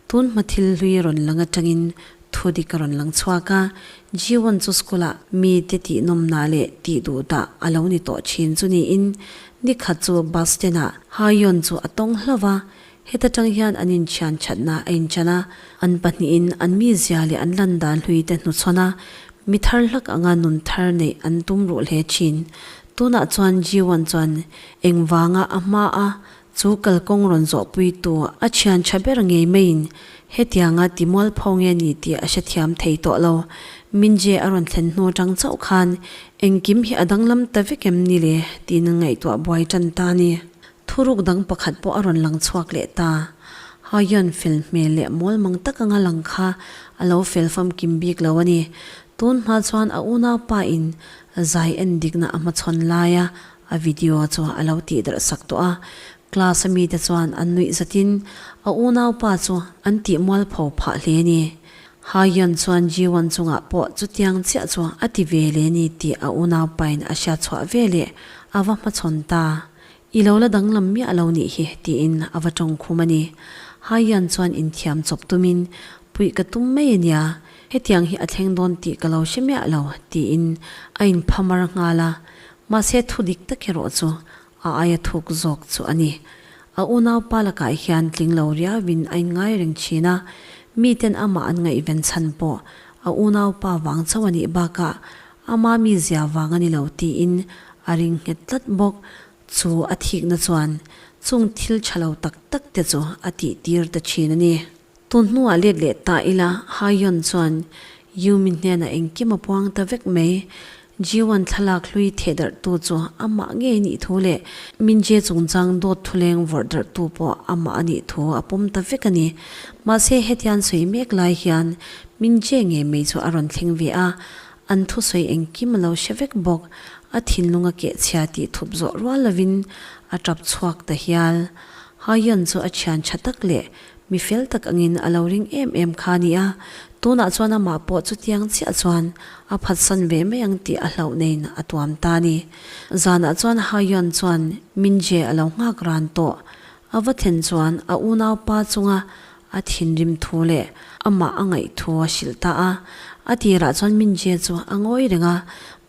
Tun hma thil hlui rawn lang atangin thu dik a rawn lang chhuak a. Jiuan chu school ah mite tih nawmna leh tih duh dah a lo ni tawh thin chu niin nikhat chu bus stand ah Haiyan chu a tawng hlauh a, Heta tang hian an inthian thatna a inchan a, an pahnihin an mizia leh an landah hlui te hnuchhawn a, mi thar hlak anga nun thar neih an tum ruh hle thin. Tunah chuan Jiwan chuan engvanga a hma a, chu kalkawng rawn zawh puitu a thian tha ber ngei maiin hetianga ti mual pho nge ni tih a hrethiam thei tawh lo. Mingjie a rawn thlen hnu atang chauh khan, Engkim hi a danglam ta vek em ni le? tiin an ngaihtuah buai tan ta a ni. Thuruk dang pakhat pawh a rawn lang chhuak leh ta. Haiyan fel hmel leh mawl mang tak anga lang kha a lo fel fam kim bik lo a ni. Tun hma chuan a unaupa in zai en dikna a hmachhawn laia a video chu a lo tih darh sak tawh a. Class a mite chuan an nuih zatin a unaupa chu an tih mual pho phah hle ni. Haiyan chuan Jiwan chungah pawh chutiang chiah chu a ti ve le ni tih a unaupa in a hriatchhuah veleh a va hmachhawn ta. I lo la danglam miah lo nih hi, tiin a va tawng khum a ni. Haiyan chuan inthiam chawp tumin, Puih ka tum mai a nia, hetiang hi a thleng dawn tih ka lo hre miah lo, tiin a inphamar nghal a. Mahse thu dik tak erawh chu a aia thuk zawk chu a ni. A unaupa lakah hian tling lo riauin a inngai reng thin a, miten amah an ngaihven chhan pawh a unaupa vang chauh a nih bakah Ama mi zia vang a ni lo tiin a ring nghet tlat bawk. Chu a thikna chuan chung thil tha lo tak tak te chu a tihtir ta thin a ni. Tun hnuah let leh ta ila Haiyon chuan Yumi hnenah engkim a puang ta vek mai. Jiwan thlalak hlui theh darh tu chu a mah ngei nih thu leh Mingjie chungchang dawt thuleng vawrh darh tu pawh a mah a nih thu a pawm ta vek a ni. Mahse hetian sawi mek lai hian Min che nge mei chu a rawn thleng ve a, an thusawi engkim a lo hre vek bawk, a thinlung a keh chhia tih thup zawh rual lovin a tap chhuak ta hial. Haiyan chu a thian tha tak leh mi fel tak angin a lo ring em em kha a ni a, tunah chuan amah pawh chutiang chiah chuan a phatsan ve mai ang tih a hlauh neiin a tuam ta a ni. Zanah chuan Haiyan chuan Minje a lo nghak ran tawh, a va thlen chuan a unau pa chunga A thinrim thu leh amah a ngaih thu a hrilh ta a, a tirah chuan Mingjie chu a ngawi reng a.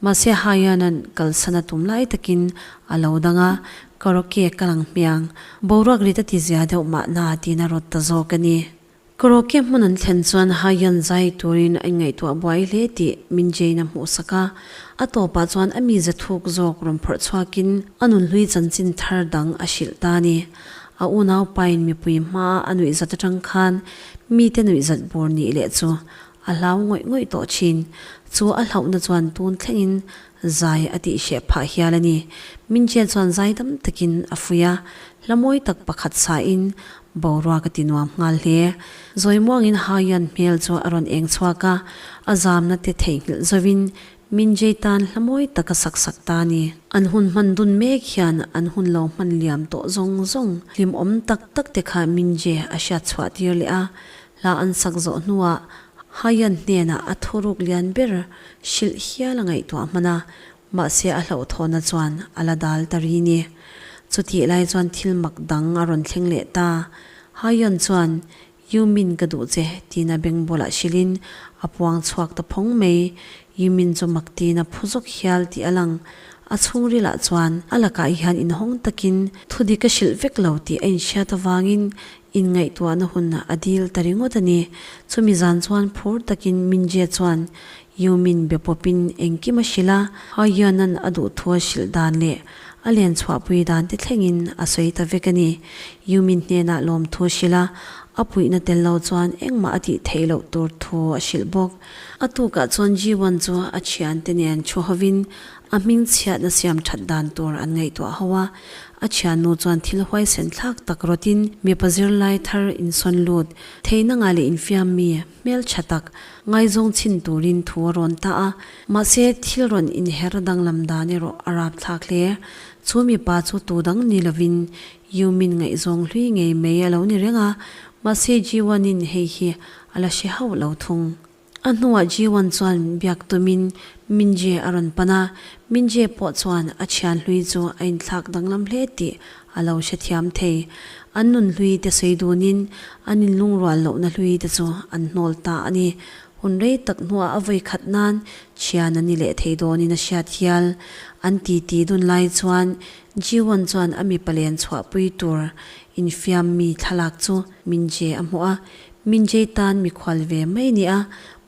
Mahse Haiyanan kalsan a tum lai takin a lo dang a, Ka Rocky ka lang hmiang, boruak rit a ti zia deuh mah na tiin a rawt ta zawk a ni. Ka Rocky hmun an thlen chuan Haiyan zai turin I ngaihtuah buai hle tih Mingjie-in a hmuhsak a, a tawpah chuan a mi zathuk zawk rawn phawrh chhuakin a nunhlui chanchin thar dang a hrilh ta a ni. A unau pain mipui hmaa a nuihzat atang khan mite nuihzat bur nih leh chu a hlau ngawih ngawih tawh thin. Chu a hlauhna chuan tun thlengin zai a tih hreh phah hial a ni. Minchia chuan zai dam takin a fui a, hlamawi tak pakhat sahin boruak a ti nuam nghal hle. Zawimuangin Haiyan hmel chu a rawn eng chhuak a, a zamna te theihnghilh zovin Min jei tan hlamawi taka sak sak ta ni. An hun hman dun mek hian an hun lo hman liam tawh zawng zawng. Hlim awm tak tak te kha Min Je a hriat chhuah tir leh a, hla an sak zawh hnuah Haiyan hnenah a thuruk lian ber hrilh hial a ngaihtuah hman a, mahse a hlauhthawnna chuan a la dal ta ri ni. Chutih lai chuan thil mak dang a rawn thleng leh ta. Haiyan chuan Yumin ka duh che, tiin a beng bawlah hrilhin a puang chhuak ta phawng mai. Yumin chu mak tiin a phu zawk hial tih a lang. A chhungrilah chuan a lakah hian inhawng takin thu dik a hrilh vek lo tih a inhriat avangin inngaihtuahna hunah a dil ta ringawt a ni. Chumi zan chuan phur takin Mingjie chuan Yumin be pawpin engkim a hrilh a, a Yuannan a duhthual hrilh dan leh a len chhuahpui dan te thlengin a sawi ta vek a ni. Yumin hnenah lawmthu hrilh a, a puihna tel lo chuan engmah a tih theih loh tur thu a hrilh bawk. A tukah chuan Ji-wan chu a thiante nen thu hovin a hming chhiatna siam that dan tur an ngaihtuah ho a, a thiannu chuan thil huaisen thlak tak rawtin mipa zirlai thar insawn lut, theihna ngah leh infiammi Hmeltha tak, ngaizawng chhin turin thu a rawn ta a, mahse thil rawn inher danglam dan erawh a rapthlak hle. Chu mipa chu tudang ni lovin Yu Min ngaihzawng hlui ngei mai a lo ni reng a, mahse Ji Wan-in hei hi a la hre hauh lo thung. A hnuah Ji Wan chuan biak tumin Min Jae a rawn pan a, Min Jae pawh chuan a thianhlui chu a inthlak danglam hle tih a lo hrethiam thei. An nun hlui te sawi dunin an in lungrual lohna hlui te chu an hnawl ta a ni. Hun rei tak hnuah a vawi khat nan thian an ni leh thei dawnin a hriat hial. An titi dun lai chuan Jiwon chuan a mipa len chhuahpui tur infiam mi thlalak chu Minjae a hmuh a. Minjae tan mikhual ve mai nia,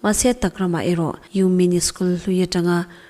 mahse takramah erawh Yumin-i school hlui atanga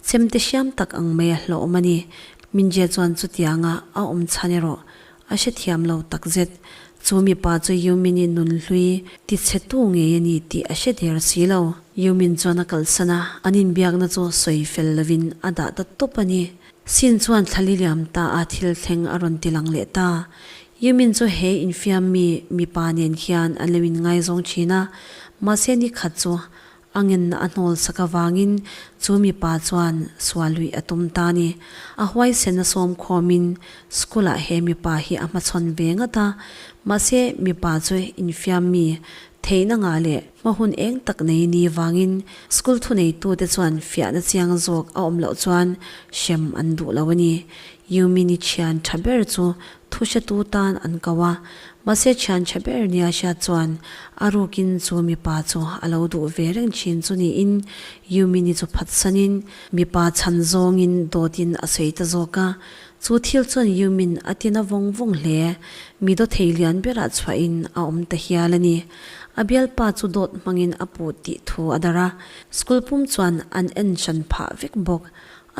Chemte hriam tak ang mai a hlawhawm a ni. Minzia chuan chutianga a awm chhan erawh a hrethiam lo takzet. Chu mipa chu Yumin i nunhlui tichhetu ngei a ni tih a hre der si lo. Yumin chuan a kalsan a, an inbiakna chu sawi fel lovin a dah ta tawp a ni. Sin chuan thla liliam taah thil thleng a rawn ti lang leh ta. Yumin chu he infiammi mipa nen hian a lo inngaizawng thin a, mahse nikhat chu A ngenna a hnawlsak avangin chu mipa chuan sual luih a tum ta ni. A huaisen a sawm khawmin school-ah he mipa hi a hmachhawn ve ngat a. Mahse, mipa chu infiammi, theihna ngah leh hma hun eng tak nei ni vangin school thuneitute chuan fiahna chiang zawk a awm loh chuan hrem an duh lo a ni. Yumini thian tha ber chu Thuhratu tan an kau a, mahse thiantha ber nia a hriat chuan a rukin chu mipa chu a lo duh ve reng thin chu niin Yumini chu phatsanin mipa chhan zawngin dawtin a sawi ta zawk a. Chu thil chuan Yumin a ti na vawng vawng hle, mi daw thei lian berah chhuahin a awm ta hial a ni. A bialpa chu dawt hmangin a put tih thu a dar a, school pum chuan an en hran phah vek bawk.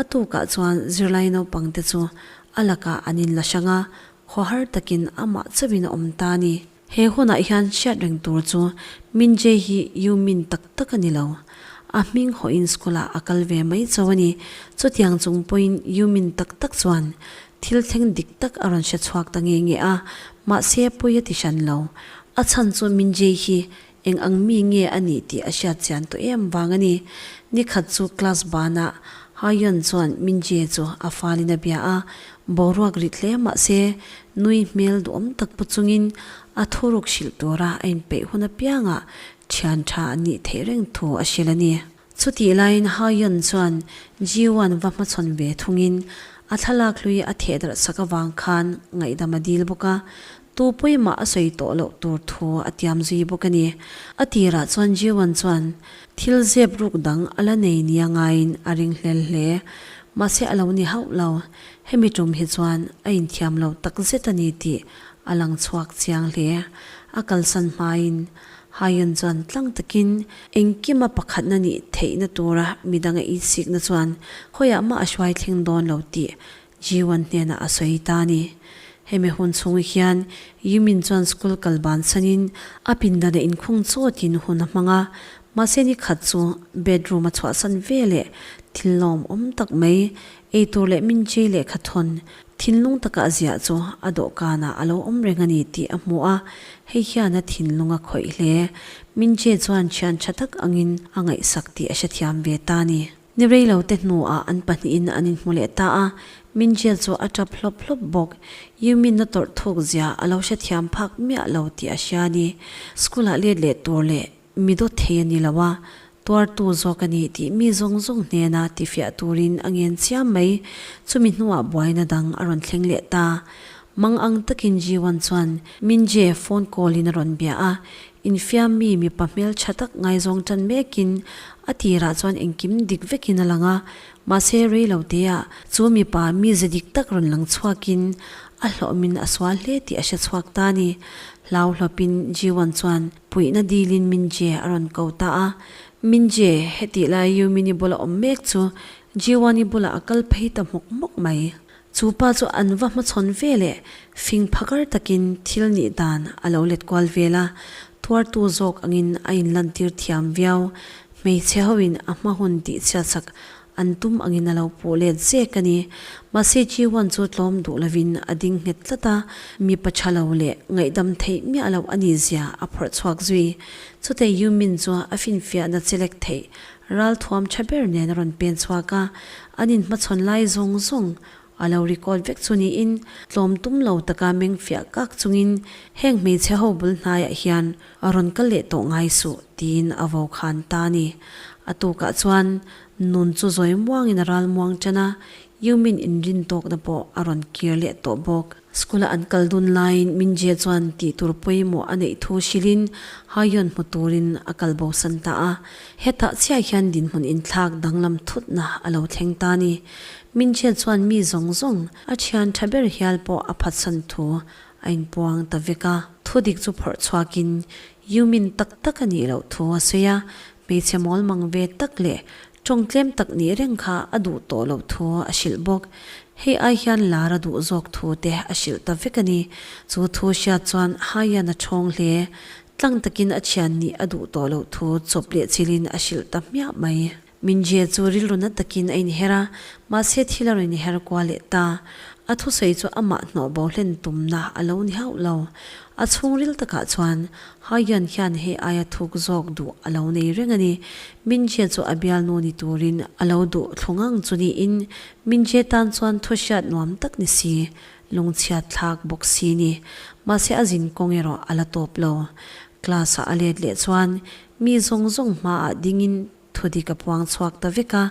A tukah chuan zirlai naupangte chu A lakah an inla hrang a, khaw har takin amah chauhin a awm ta a ni. He hunah hian hriat reng tur chu Min Jae hi Yu Min tak tak a ni lo. A hming hawiin school-ah a kal ve mai chau a ni. Chutiang chung pawhin Yu Min tak tak chuan thil thleng dik tak a rawn hre chhuak ta nge nge a, mahse pawi a ti hran lo. A chhan chu Min Jae hi Eng ang mi nge a nih tih a hriat chian tawh em vang a ni. Ni khat chu class banah Haoyuan chuan Mingjie chu a falin a bia a, boruak rit hle mah se nui hmel duhawm tak pu chungin a thu ruk hrilh tura a inpeih hun apiangah thian tha an nih theih reng thu a hrilh a ni. Chutih laiin Hao-yun chuan Ji-won va hmachhawn ve thungin a thlalak hlui a theh darh sak avang khan ngaihdam a dil bawk a, tupui mah a sawi tawh loh tur thu a tiam zui bawk a ni. A tirah chuan Ji-won chuan thil zep ruk dang a la nei nia ngaiin a ring hlel hle. Mahse a lo ni hauh lo, hemi tum hi chuan a inthiam lo takzet a ni tih a lang chhuak chiang hle. A kalsan hmain. Haiyan chuan tlang takin, Engkima pakhatna nih theihna tura midang a insikna chuan khawiah mah a hruai thleng dawn lo tih Jiwan hnenah a sawi ta a ni. Hemi hun chhunga hian Yimin chuan school kal ban sanin a pindanah inkhung chawtin hun a hmang a, mahse nikhat chu bedroom a chhuahsan veleh thil lawmawm tak mai, eitur leh min chei leh kha thawn Thinlung taka ziah chu a dawhkanah a lo awm reng a ni tih a hmu a, hei hiana thinlung a khawih hle. Mingjie chuan thian tha tak angin a ngaihsak tih a hrethiam ve ta ni. Ni rei lo te hnuah an pahnihin an inhmu leh ta a, Mingjie chu a ṭap hlawp hlawp bawk. Yumin-a tawrhthuk zia a lo hrethiam phak miah lo tih a hria a ni. School-ah let leh tur leh Mi dawt thei a ni lo a, tuartu zawk a ni tih mi zawng zawng hnena tifiah turin a ngen chiam mai. Chumi hnuah buaina dang a rawn thleng leh ta. Mang ang takin Jiwan chuan Minjie phone call in a rawn bia a, infiam mi mipa hmel tha tak ngai zawng tan mekin a tirah chuan engkim dik vekin a lang a, mahse rei lo têah chu mipa mi ze dik tak rawn lang chhuakin a hlawhmin a sual hle tih a hre chhuak ta a ni. Hlauhlawpin Jiwan chuan. Puihna dilin Minjie a rawn ko ta a, Minjie, hetih lai Yumin i bula awm mek chu Jiwan i bulah a kal phei ta hmawk hmawk mai. Chu pa chu an va hmachhawn ve leh fing phakar takin thil nih dan a lo let kual vel a, tuartu zawk angin a inlantir thiam viau. Hmeichhe hoin a hma hun tihchhiatsak An tum angin a lo puh let zek a ni. Mahse Jiwan chu tlawm duh lovin a ding nghet tlat a, mi pacha lo leh ngaihdam theih miah lo a ni zia a phawrh chhuak zui. Chute Yumin chu a finfiahna che lek theih, ralthuam tha ber nen a rawn pen chhuak a, an inhmachhawn lai zawng zawng A lo record vek chu niin tlawm tum lo taka meng fiah kak chungin heng hmeichhe ho bul hnaiah hian a rawn kal leh tawh ngai suh tiin a vo khan ta a ni. A tukah chuan nun chu zawi muangin a ral muang ṭan a, Yumin inrin tawkna pawh a rawn kir leh tawh bawk. School-a an kal dun laiin Mingjie chuan tih tur pawimawh a neih thu hrilhin Haiyawn hmu turin a kal bosan ta a. Hetah chiah hian dinhmun inthlak danglam thutna a lo thleng ta ni. Mingjie chuan mi zawng zawng, a thian tha ber hial pawh a phatsan thu a inpuang ta vek a. Thudik chu phawrh chhuakin Yumin tak tak a nih loh thu a sawi a. Hmeichhe mawlmang ve tak leh Tawng tlem tak nih reng kha a duh tawh loh thu a hrilh bawk. Hei ai hian lar a duh zawk thu te a hrilh ta vek a ni. Chu thu hriat chuan Haiyan a ṭhawng hle. Tlang takin a thian nih a duh tawh loh thu chawp leh chil in a hrilh ta hmiah mai. Mingjie chu rilru na takin a inher a, mahse thil a rawn inher kual leh ta. A thusawi chu amah hnawh bohlen tumna a lo ni hauh lo. A chhungril takah chuan Haiyan hian hei aia thuk zawk duh a lo nei reng a ni. Mingjia chu a bialnu ni turin a lo duh thlu ngang chu niin Mingjia tan chuan thuahriat nuam tak ni si, lungchhiat thlak bawk si ni. Mahse a zin kawng erawh a la tawp lo. Class-ah a let leh chuan mi zawng zawng hmaah dingin Thudik a puang chhuak ta vek a,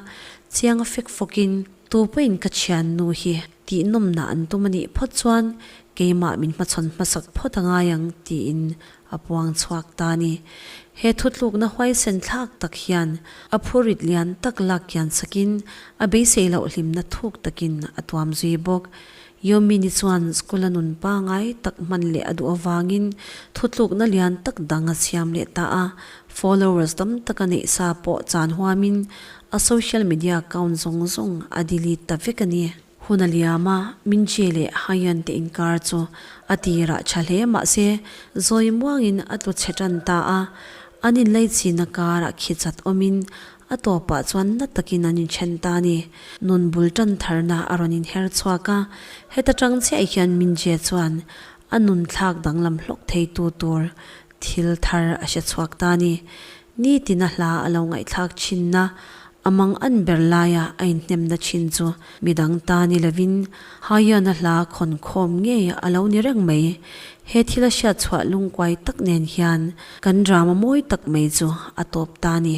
chiang a fek fawkin, Tu pawhin ka thiannu hi tihnawmna an tum a nih phawt chuan keimah min hmachhawn hmasak phawt a ngai ang tiin a puang chhuak ta a ni. He thutlukna huaisen thlak tak hian a phuarit lian tak lak kian sakin a beisei lohhlimna thuk takin a tuam zui bawk. Yomi ni chuan school a nun pangai tak hman leh a duh avangin thutlukna lian tak dang a siam leh ta a, followers tam taka neih sa pawh chan huamin a social media account zawng zawng a delete ta vek a ni. Hun a liam a, Min Che leh Haiyan te inkar chu a tirah tha hle mahse zawi muangin a tlu chhe tan ta a, an inlei chhina karah khichat awmin A tawpah chuan na takin an inthen ta a ni. Nun bul tan tharna a rawn inher chhuak a, heta tang chiahi khian Mingjie chuan a nun thlak danglam hlawk theitu tur thil thar a hre chhuak ta a ni. Nitina hla a lo ngaihthlak thinna a mang an ber laia a inhnemna thin chu midang ta ni lovin Haiana hla khawn khawm ngei a lo ni reng mai. He thil a hriat chhuah lungkuai tak nen hian kan drama mawi tak mai chu a tawp ta a ni.